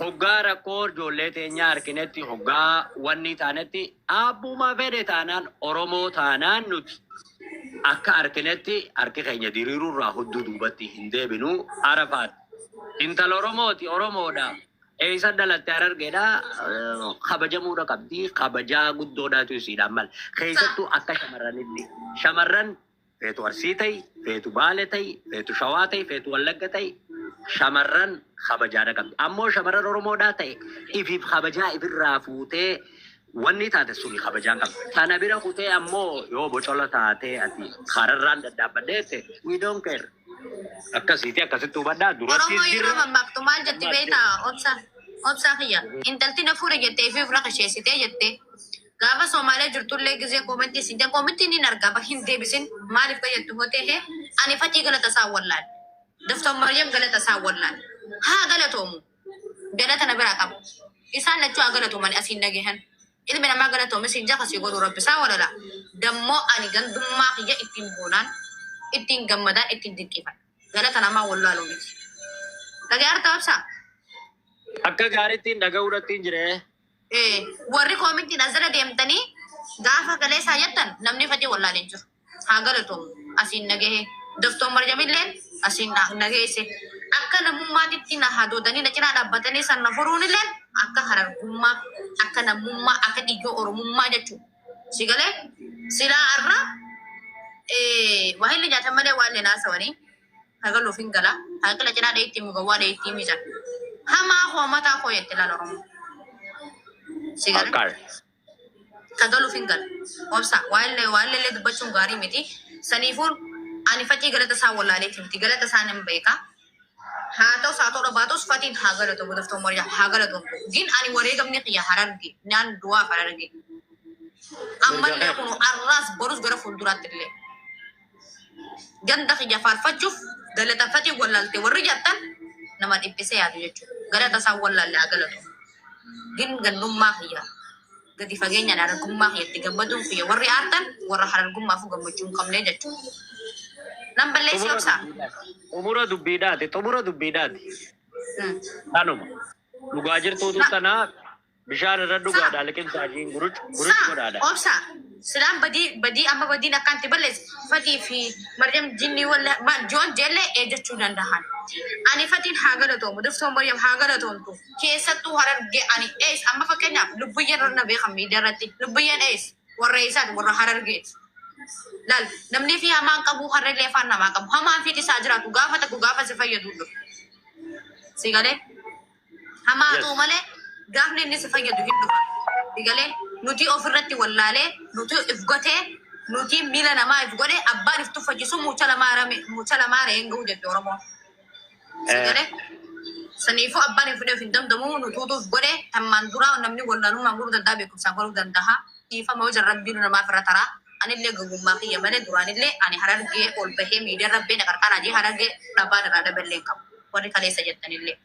Hoggaa rakkoo ijoollee teenyaa arkinetti, hoggaa wannii taanetti, Aabbuma fedhe taanaan Oromoo taanaan nuti akka arkinetti harki keenya diriiruu irraa hudduu duubatti hin deebinu. Arafaat intala Oromooti, Oromoodha, eessa dhalatte Harargeedha, kabajamuudha qabdi, kabajaa guddoodhaatu isiidhaan mala. Keessattuu akka shamarranitti. Shamarran Feetu Arsii ta'i, feetu Baale ta'i, feetu Shawaa ta'i, feetu Wallagga ta'i shamarran kabajaa na qabdi. Ammoo shamarran Oromoodhaa ta'e ifiif kabajaa ifirraa fuutee wanni taate suni kabajaan qabdi. Tana bira kutee ammoo yoo bocola taatee ati kararraan dadhaabbadhee jette we don't care. Akkasiiti akkasitti hubadhaa durattis Oromoo yeroo jirra. mammaaktu maal jetti beektaa? Obsa. Obsaa kiyya. Intalti na fuudhe jettee fi ofirra kasheessitee jettee. Gaafa Somalia jirtullee gizee koomentii siin jedhan koomentii niin argaa bar hin deebisin maaliif fayyaddu hotee hee ani faxii galata isaa wallaale doftor Maryam galata isaa wallaale haa galatoomu galata na biraa qabu isaan lachuu haa galatoomani asiin nagehan ilmi namaa galatoome siin jafa sii godhuu rabbi isaa walala dammoo ani gandummaa kiyya ittiin boonaan ittiin gammadaan ittiin dinqiifan galata namaa wallaaluu miti dhagee artaa ibsaa Akka gaariittiin dhaga'uu irrattiin jira. Eh, warri koomintiin as jala deemtanii gaafa kaleessaa jettan namni fatee wallaalee hin jiru. Haa galatoomu. Asiin nagahe. Doftoon Marjamilleen asiin na na geesse. Akka namummaatitti na hadoodanii na cinaa dhaabbatanii san na furuunilleen akka harargummaa, akka namummaa, akka dhiiga oromummaa jechuudha. Si galee silaa har'a eh, waa inni nyaatan malee waan inni naasawanii. Hagalu ofin gala. Haqila cinaa dheeytii mu gawwaa dheeytii mi jan. Hamaa koo mataa koo jette laal Oromoo. Si gala. Akkaar. Hagalu ofin gala. Obsa waa'illee waa'illeellee dubbachuun gaarii miti. Saniifuu ani facii galata isaa wallaaleeti miti. Galata isaa nan beeka. Haa ta'us haa ta'uu baatus fatiin haa galatomu doftoon warjaa haa galatomu. Gin ani wareegamni kiyya hararge naan duwaaf hararge. Mirga Ammallee kee. kun arraas borus gara fuulduraatti illee. Ganda kiyya faarfachuuf galatanfatiin wallalte warri jattan nama dhiphise yaadu jechuudha. Galata isaan wallaalle haa galatu. Gin gandummaa kiyya gadi fageenyaan harargummaa kiyyatti gammaduun kiyya warri aartan warra harargummaafuu gammachuu hin qabne jechuudha. Nan balleessee Xumura obsaa. dubbiidhaati. Xumura dubbiidhaati. Xumura dubbiidhaati. Hmm. Kanuma. Dhugaa jirtuutu Na- tanaa Bishaan irra dhugaa dha liqimsaa jiin guruc guruc godhaa dha. Obsa silaan badii badii amma badiin akkaan itti balleesse fatii fi maryam jinnii walla ma joon jelle eejjechuu dandahan ani fatiin haa galatoomu doftoon maryam haa galatoomtu keessattuu hararge ani ees amma fakkeenyaaf lubbuyyeen warra na beekan miidiyaa irratti lubbuyyeen ees warra eessaati warra harargeeti laal namni fi hamaan qabu harra illee afaan namaa qabu hamaan fi isaa jiraatu gaafa takku gaafa si fayyadu dhufu si galee Hamaa haa ta'u malee gaafni inni si fayyadu hin dhufa. Digalee nuti of irratti wallaalee nuti if gotee nuti miila namaa if godhe abbaan if tuffachiisu mucha lamaa rame mucha lamaa re'een ga'uu jette Oromoo. Digalee saniifuu abbaan if fudhee of hin danda'u nutuutu if godhe tammaan duraa namni wallaalummaan godhuu danda'a beekumsaan godhuu danda'a. Dhiifama yoo jarrabbiin namaaf irra taraa anillee gowwummaa kiyya malee duraanillee ani harargee ol bahee miidiyaa rabbee na qarqaraa jee harargee dhabaa irraa dhaballee hin qabu. Warri kaleessa jettanillee.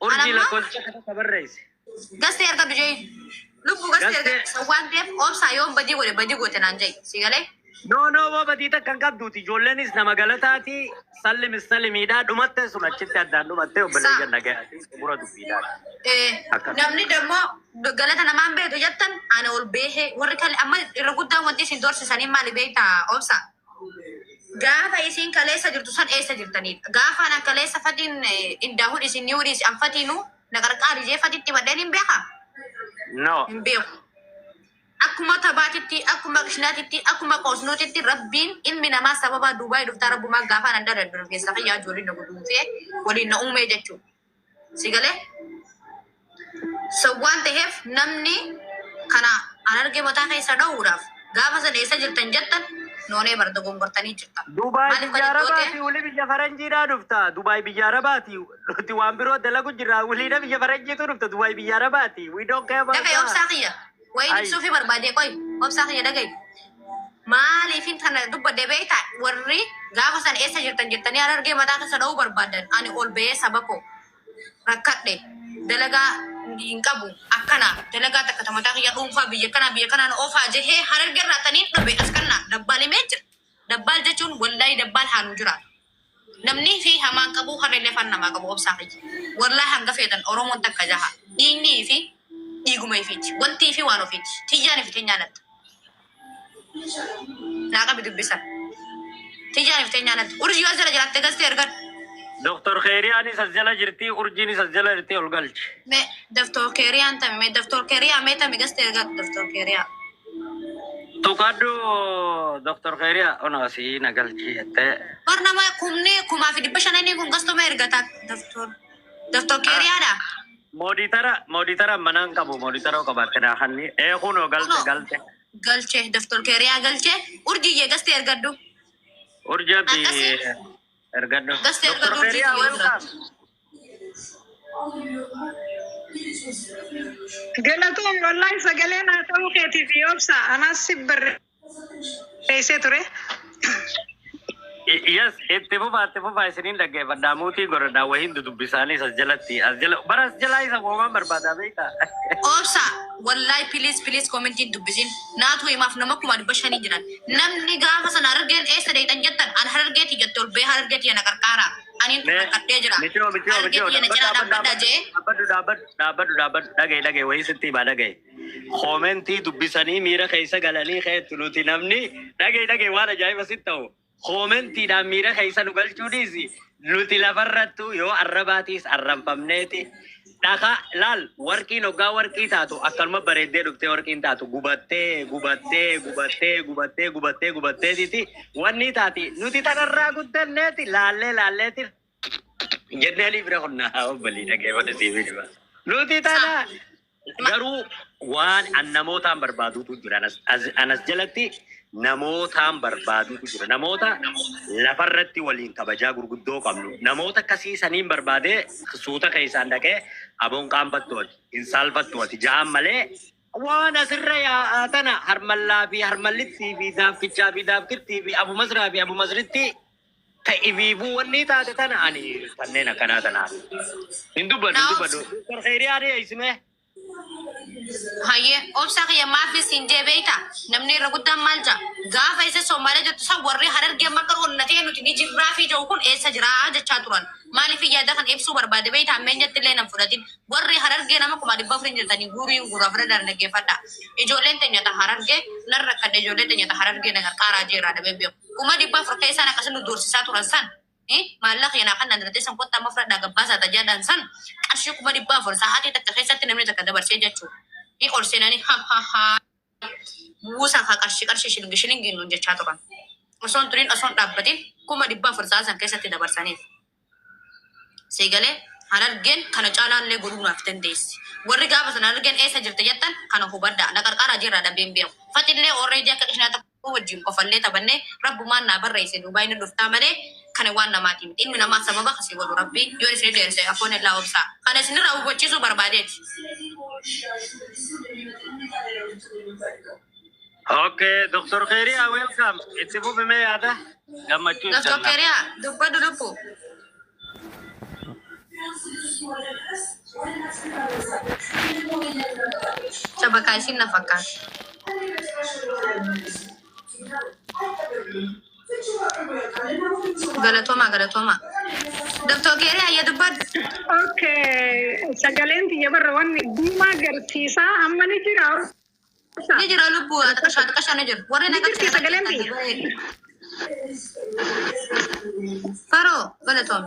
Urjii lakkoofsa akka barreessi. Gastee argadhu jee. Lubbu gastee argadhu. Waan ta'eef obsaa yoo badii godhe badii goote naan jee. Si galee? Noo noo boo badii takka hin qabduuti. Ijoolleenis nama galataati. Sallimis salimiidha. Dhumattee sun achitti addaan dhumattee obboleeyyan nagaya. Gura dubbiidha. Namni dammoo galata namaan beetu jettan ana ol beehee warri kale amma irra guddaan wanti isin doorsisanii maali beektaa obsaa? Gaafa isiin kaleessa jirtu san eessa jirtaniidha? Gaafaan an kaleessa fadhiin indaa hudhisin ni hudhiisi an fatiinu na qarqaari jee fatitti madheen hin beeka? No. Hin beeku. Akkuma tabaatitti, akkuma qishnaatitti, akkuma qoosnuutitti rabbiin ilmi namaa sababaa Duubaay dhuftaa rabbumaa gaafaan adda daddargeessa kiyyaa ijoolleen na guduunfee waliin na uumee jechuudha. Si galee? So waan ta'eef namni kana an arge mataa keessa dha'uudhaaf gaafa sana eessa jirtan jettan noonee bar dogongortanii jirtan. Dubaay Maaliif biyya kan itti Arabaati hojjete? wuli biyya Faranjiidhaa dhufta. Dubaay biyya Arabaati nuti waan biroo dalagu jirra. Wuliidha biyya Faranjiitu dhufta. Dubaay biyya Arabaati. We don't care about Dafee that. obsaa kiyya. Wayiin Ay. ibsuufi barbaadee qoy obsaa kiyya dhagayi. Maaliifin kana dubbadde beekta warri gaafa sana eessa jirtan jettanii harargee mataa keessa dha'uu barbaadan ani ol ba'ee saba koo rakkadhe dalagaa hin qabu akkana dalagaa takka ta mataa kiyya dhuunfaa biyya kanaa biyya kanaan oofaa jehee harargee irraa taniin dhabe as kanna dabbaal himee jira. Dabbaal jechuun wallaayii dabbaal haanuu jiraatu. Namnii fi hamaan qabuu hamelee afaan namaa qabuu obsaa kiyya wallahi hanga feetan oromoon takka jaha dhiignii ifi dhiiguma ifiiti wantii fi waan ofiiti tiyyaan ifi tenyaa natta naa qabi dubbi san tiyyaan ifi tenyaa natta urjii yoo as jala jiraatte galte ergan Doktor Keeriyaanis as jala jirti, urjiinis as jala jirti ol galchi. me daftor keeriyaan tami me daftor keeriyaa me tami gaste ergan daftor keeriyaa Tuqadhu Dr. Khairiya ono asii na galchi jettee. Bar nama kumni kumaa fi dhibba shananii kun gastuma ergata Dr. Dr. Keeriyaadha. Mooditara mooditara manaan qabu mooditara qabaatte naa hanni ee kunoo galte Kunoo. galte. Galche Dr. Keeriyaa galche urjiyyee gasti ergadhu. Urjii abdi Akkasii. ergadhu. Gasti Dr. ergadhu Khairiya urjii welcome. Galatoom wallahi sagalee naa ta'uu keetiif obsa anaas si barreessee ture. Yes, itti fufaa itti fufaa isiniin dhaggeeffadhaa muutii godhadhaa wahiin dudubbisaanis as jalatti as jala bara as jalaa isa moomaan barbaadaa beektaa. Obsa wallahi please please commentiin dubbisin naatu himaaf nama kuma dhibba shanii jiran namni gaafa sana harargeen eessa deetan jettan an harargeeti jette ol bee harargeeti yana qarqaara. Anin Mee, dhufadhee jira. Michoo, michoo, Harki michoo, kiyya na cinaa dhaabbadhu, dhaabbadha jee. dhaabbadhu, dhaabbadhu, dhaabbadhu, dhaabbadhu, dhaga'i, dhaga'i, wayii sitti himaa, dhaga'i. Koomentii dubbisanii miira keessa galanii keettu nuti namni dhaga'i, dhaga'i, waan ajaa'iba sitti ta'u. Koomentiidhaan miira keessa nu galchuu dhiisi. Nuti lafarrattu yoo arrabaatiis arranfamneeti. Dhakaa laal warqiin oggaa warqii taatu akkanuma bareeddee dhuftee warqiin taatu gubattee gubattee gubattee gubattee gubattee gubatteetiiti wanni taati nuti tanarraa guddanneeti laallee laalleeti jenneenii bira qonnaa obbalii dhageeffate siifii dhibaa. Nuti tana garuu waan an namootaan barbaaduutu jira anas, as, anas jalatti namootaan barbaaduutu jira. Namoota lafarratti waliin kabajaa gurguddoo qabnu. Namoota akkasii saniin barbaadee suuta keessaan dhaqee aboon qaanfattu ati, hin saalfattu ati ja'aan malee waan asirra yaa'aa tana harmallaa fi harmallittii fi daaffichaa fi daafkittii fi abu masraa fi abu masrittii ta ifiifuu wannii taate tana ani kanneen akkanaa tanaan hin dubbadhu hin dubbadhu. Doktar Kheyriyaa dhiyeessimee. Hayyee obsa kiyya maafii siin jee beeyta namni irra guddaan maal jaa gaafa isa soomaalee jettu san warri harargee amma akka onna ta'e nuti ni jirraa fi jedhu kun eessa jiraa jechaa turan maaliif yaada kan ibsuu barbaade beeyta ammeenyatti illee nan fudhatin warri harargee nama kuma dhibba afurii jirtanii guurii hin guuraa fira daan dhaggeeffadha ijoolleen teenyata harargee nan rakkadhe ijoollee teenyata harargee na qarqaaraa jeeraa dhabee beeku kuma dhibba afur keessaan akkasii nu doorsisaa turan san Eh, maallaqa keenaa kan naan teessan kottaa amma fudhadhaa gabbaasaa ta jedhan san qarshii kuma dhibba afur sa'aatii takka keessatti namni takka dabarsee jechuu ni ol seenanii ha ha ha buusa kaa qarshii qarshii shilingi shilingi nuun jechaa turan osoon turiin osoon dhaabbatiin kuma dhibba afur sa'aa san keessatti dabarsaniif siigalee harargeen kana caalaallee godhuu naaf dandeessi warri gaafa sana harargeen eessa jirta jettan kana hubadhaa na qarqaaraa jirraa dhabeen beeku fatillee orreejii akka qishnaa tokko wajjin kofallee taphanne rabbumaan naa barreesse duubaay ni dhuftaa malee kana waan namaatii miti ilmi namaa sababa kasii godhu rabbi yoo isni dheerse afoon illaa obsaa kana isnirraa hubachiisuu barbaadeeti. Ok Doktar Kheria welcome itti fufi mee yaada gammachuu ibsanna. Doktar Kheria dubbadhu lubbu. Shabakaa ishiin na fakkaatti. Galatoomaa galatoomaa. Doktor Keerii ayya dubbadhu. Okay, sagaleen tiyya barra wanni diimaa garsiisaa amma ni jira. Ni jira lubbuu xiqashaa xiqashaa ni jira. Warri Ni jirti sagaleen biyya. Faroo galatoom.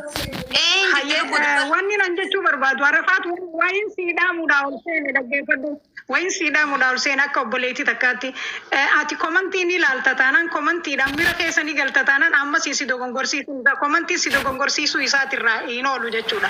Ee hin Hayyee jirtu lubbuu eh, xiqqoo. wanni nan jechuu barbaadu arafaatu wayin sii dhaamuudhaa ol seene dhaggeeffadhu. Wayin sii dhaamuudhaa ol seene akka obboleettii takkaatti eh, ati komantii ni ilaalta taanaan komantiidhaan mira keessa ni galta taanaan ammas si dogongorsiisuu isaa komantiin si dogongorsiisuu isaatirraa hin oolu jechuudha.